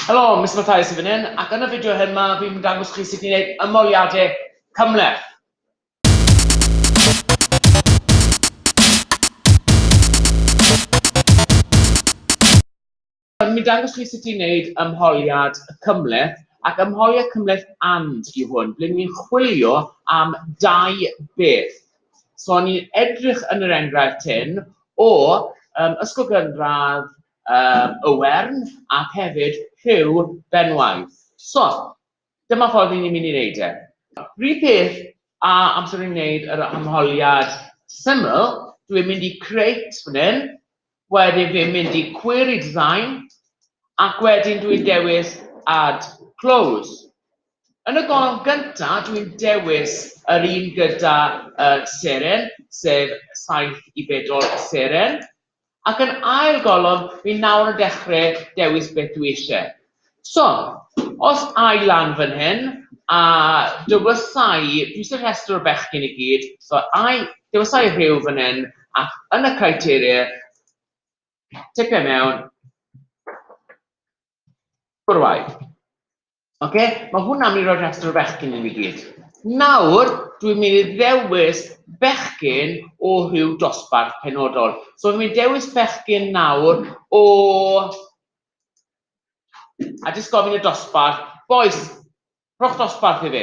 Helo, Mister Mathias yn fan hyn, ac yn y fideo hyn ma fi'n mynd dangos chi sut i wneud ymoliadau cymhleth. Fi'n mynd dangos chi sut i wneud ymholiad cymhleth, ac ymholiad cymhleth and yw hwn, ble ni'n chwilio am dau beth. So ni'n edrych yn yr enghraifft hyn o um, ysgol gynradd yr Owern ac hefyd rhyw benwaith. So, dyma ffordd ry'n ni'n mynd i wneud e. Rhyw peth a amser ni'n wneud yr arholiad syml, dw i'n mynd i crate fan hyn, wedyn fi'n mynd i query design, ac wedyn dw i'n dewis add close. Yn y golofn gynta dw i'n dewis yr un gyda seren, sef saith i bedwar seren, Ac yn ail golofn, fi nawr yn dechre dewis beth dwi isie. So, os ai lan fan hyn, a dywysai, dwi isie rhestr o bechgyn i gyd, so ai, dywysai Rhyw fan hyn, ac yn y criteria, ticio i mewn, bwrw ai. Oce, mae hwnna mi roi rhestr o fechgyn i mi gyd. Nawr, dwi'n mynd i ddewis bechgyn o rhyw dosbarth penodol. So, dwi'n mynd i dewis bechgyn nawr o... A jyst gofyn y dosbarth, bois, rhowch dosbarth i fi.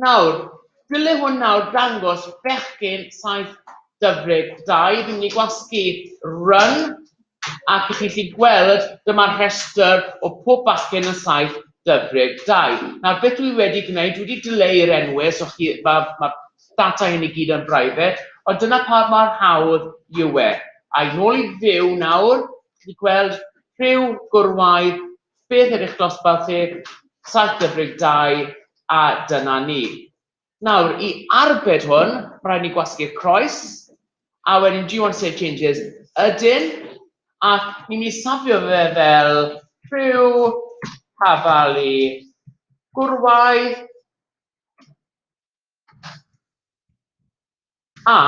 Nawr, dyle hwn nawr dangos bechgyn saith Dyfrig, da, i fi'n mynd i gwasgu run, ac i chi chi gweld, dyma'r rhestr o pob bachgen yn saith Dyfrig, da. Nawr, beth dwi wedi gwneud, dwi wedi dileu'r enwau, so chi, ma, ma data hyn i gyd yn brifet, ond dyna pa mor hawdd yw e. Ai, nôl i fyw nawr, chi wedi gweld rhyw gwrywaidd Beth yw'ch dosbarth chi? Saith deg deg dau a dyna ni. Nawr, i arbed hwn, rhaid ni gwasgu'r croes, a wedyn do you want to save changes? Ydyn, ac ni'n mynd i safio fe fel rhyw tafalu gwrywaidd. A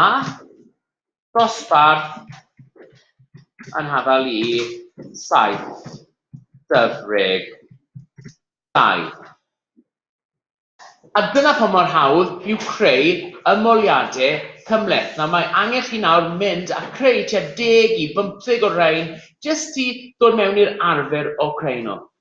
dosbarth yn hafal i saith dyfrig dau. A dyna pam mor hawdd yw creu ymoliade cymhleth. Nawr mae angen chi nawr mynd a creu tua deg i bymtheg o rain jyst i ddod mewn i'r arfer o creu nhw.